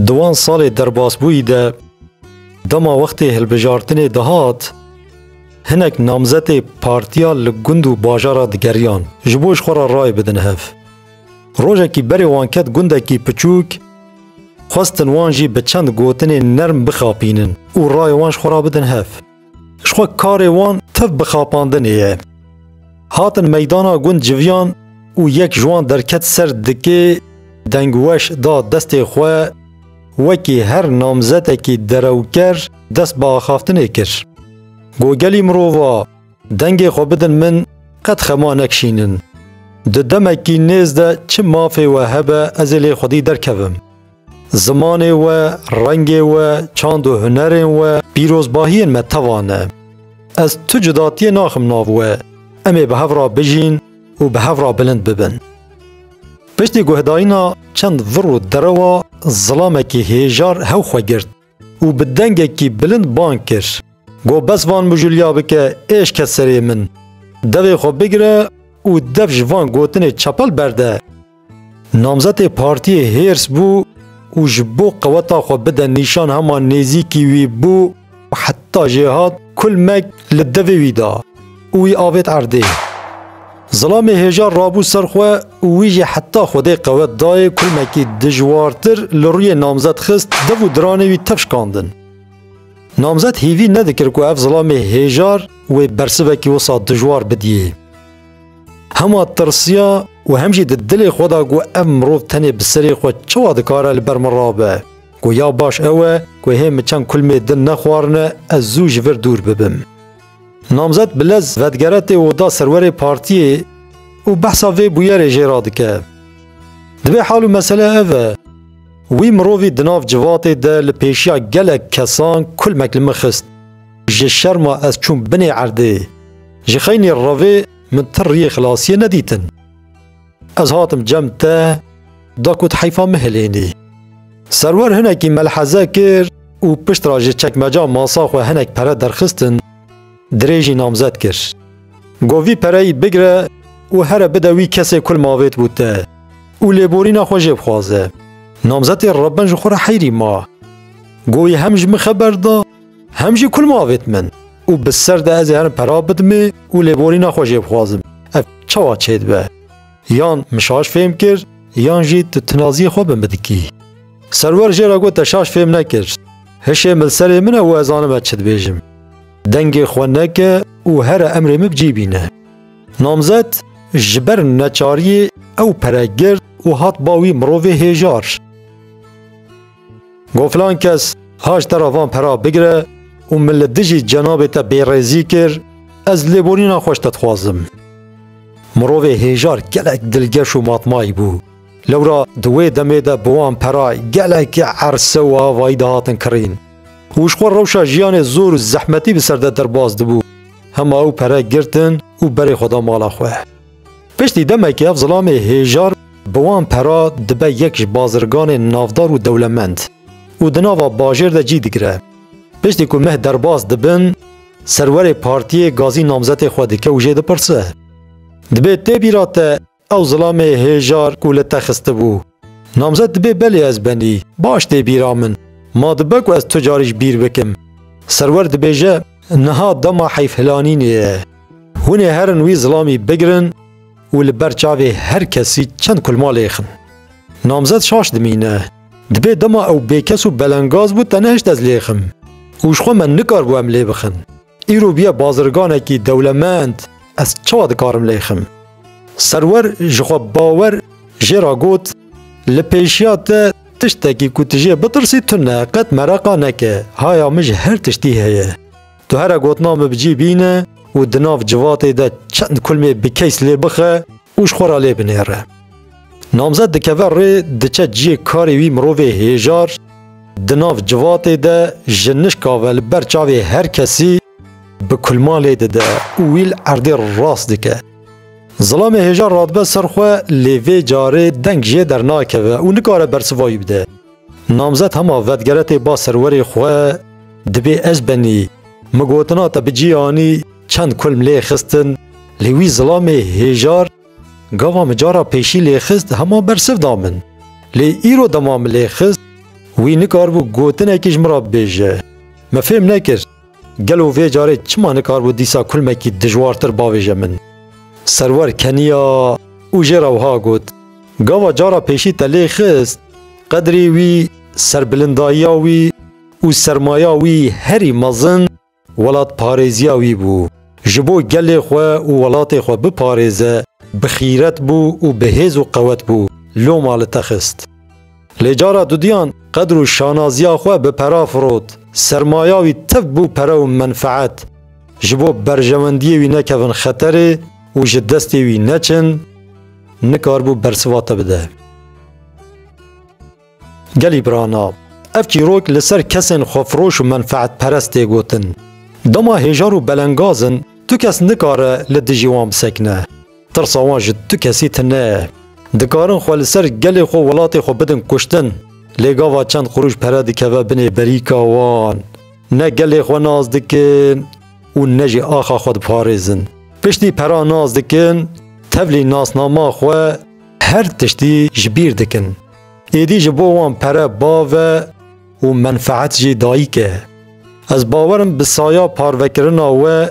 Di wan salê derbasbûyî de dema wextê hilbijartinê dihat, hinek namzetê partiya li gund û bajara digeriyan ji bo ji xwe re rayê bidin hev. Rojekî berê wan ket gundekî piçûk, xwestin wan jî bi çend gotinên nerm bixapînin û rayê wan ji xwe re bidin hev. Ji xwe karê wan tev bi xapandinê ye. Hatin meydana gund civiyan û yek ji wan derket ser dikê dengweş da destê xwe wekî her namzetekî derewker dest bi axaftinê kir. Got gelî mirova dengê xwe bidin min qet xema nekişînin. Di demekî nêz de çi mafê we hebe ez ê lê xwedî derkevim. Zimanê we, rengê we, çand û hunerên we, pîrozbahiyên me teva ne. Ez tu cudatiyê naxim nav we. Em ê bi hev re bijîn û bi hev re bilind bibin. Piştî guhdarîna çend vir û derewa zilamekî hêjar hew xwe girt. û bi dengekî bilind bang kir, Go bes van mijûliya bike êş ke serê min. Devê xwe bigire û dev ji van gotinê çepel berde. Namzetê partiyê hêrs bû û ji bo qeweta xwe bide nîşan hema nêzîkî wî bû û heta jê hat kulmek li devê wî da. û wî avêt erdê. Zilamê hêja rabû ser xwe û wî jî heta Xwedê qewet dayê kulmekî dijwartir li rûyê namzet xist, dev û diranê wî tev şikandin. Namzet hîvî nedikir ku ev zilamê hêjar wê bersivekî wisa dijwar bidiyê. Hema tirsiya û hem jî di dilê xwe da ku ev mirov tenê bi serê xwe çawa dikare li ber min rabe, ku ya baş ew e ku hê min çend kulmê din nexwarine ez zû ji vir dûr bibim. Namzet Bilez vedigere tê oda serwerê partiyê û behsa vê bûyerê jê re dike. Divê hal û mesele ev e, wî mirovî di nav civatê de li pêşiya gelek kesan kulmek li min xist. Ji şerma ez çûm binê erdê. Ji xeynî revê min ti riyê xilasiyê nedîtin. Ez hatim cem te da ku heyfa min hilênî. Serwer hinekî melheze kir û pişt ra ji çekmeca masa xwe hinek pere derxistin, dirê jî namzet kir. Got vî pereyî bigire û here bide wî kesê kul mavêt bû te û lêborîna xwe jê bixwaze. Namzetê Rebben ji xwe re heyrî ma. Got wî hem ji min xeber da Hem jî kul mavêt min û bi ser de ez ê herin pera bidimê û lêborîna xwe jê bixwazim. Ev çawa çêdibe? Yan min şaş fêm kir yan jî tu tinaziyê xwe bi min dikî. Serwer jê re got te şaş fêm nekir. Hişê min li serê min e û ez zanim ez çi dibêjim. Dengê xwe neke û here emrê min bi cî bîne. Namzet ji ber neçariyê ew pere girt û hat ba wî mirovê hêjar. Got filan kes haş te re van pera bigire û min li dijî cenabê te bêrêzî kir, ez lêborîna xweş te dixwazim. Mirovê hêjar gelek dilgeş û matmayî bû. Lewra di wê demê de bi wan pera gelekî erse û avayî dihatin kirîn û ji xwe rewşa jiyanê zor û zehmetî bi ser de derbas dibû. Hema ew pere girtin û berê xwe da mala xwe. Piştî demekê ev zilamê hêjar bi wan pera dibe yek ji bazirganên navdar û dewlemend û di nava bajêr de cî digire. Piştî ku meh derbas dibin, serwerê partiyê gazî namzetê xwe dike û jê dipirse. Dibê tê bîra te ew zilamê hêjar ku li te xistibû, Namzet dibe belê ez benî. Baş tê bîra min. Ma dibe ku ez tu carî ji bîr bikim. Serwer dibêje, Niha dema heyfhilanînê ye. Hûn ê herin wî zilamî bigirin û li ber çavê her kesî çend kulma lêxin. Namzet şaş dimîne. Dibê dema ew bêkes û belengaz bû te nehişt ez lêxim. Û ji xwe me nikaribû em lê bixin. Îro bûye bazirganekî dewlemend, ez çawa dikarim lê xim? Serwer ji xwe bawer jê re got, Li pêşiya te tiştekî ku tu jê bitirsî tune, qet mereqa neke, haya min ji her tiştî heye. Tu here gotina min bi cî bîne û di nav civatê de çend kulmê bi keys lê bixe û ji xwe re lê binêre. Namzet dikeve rê diçe ciyê karê wî mirovê hêjar di nav civatê de ji nişka ve li ber çavê her kesî bi kulma lê dide û wî li erdê rast dike. Zilamê hêjar radibe ser xwe lê vê carê deng jê dernakeve û nikare bersiva wî bide. Namzet hema vedgeretê ba serwerê xwe dibê ez benî. Mi gotina te bi cî anî çend kulm lê xistin lê wî zilamê hêjar gava mi cara pêşî lê xist hema bersiv da min. Lê îro dema mi lê xist wî nikaribû gotinekî ji min re bibêje. Mi fêm nekir. Gelo vê carê çima nikarbû dîsa kulmekî dijwartir bavêje min? Serwer keniya û jê re wiha got, Gava cara pêşî te lê xist, qedrê wî, serbilindayiya wî û sermaya wî herî mezin welatparêziya wî bû. Ji bo gelê xwe û welatê xwe biparêze, bi xîret bû û bi hêz û qewet bû, loma li te xist. Lê cara dudiyan qedr û şanaziya xwe bi pera firot. Sermaya wî tev bû pere û menfeet. Ji bo berjewendiyê wî nekevin xeterê û ji destê wî neçin, nikaribû bersiva te bide. Gelî birana, ev çîrok li ser kesên xwefiroş û menfeetperest tê gotin. Dema hêjar û belengaz in, tu kes nikare li dijî wan bisekine. Tirsa wan ji tu kesî tune ye. Dikarin xwe li ser gelê xwe û welatê xwe bidin kuştin, lê gava çend qurûş pere dikeve binê berîka wan. Ne gelê xwe nas dikin û ne jî axa xwe diparêzin. Piştî pera nas dikin, tevlî nasnama xwe her tiştî ji bîr dikin. Êdî ji bo wan pere bav e û menfeet jî dayîk e. Ez bawerim bi saya parvekirina we,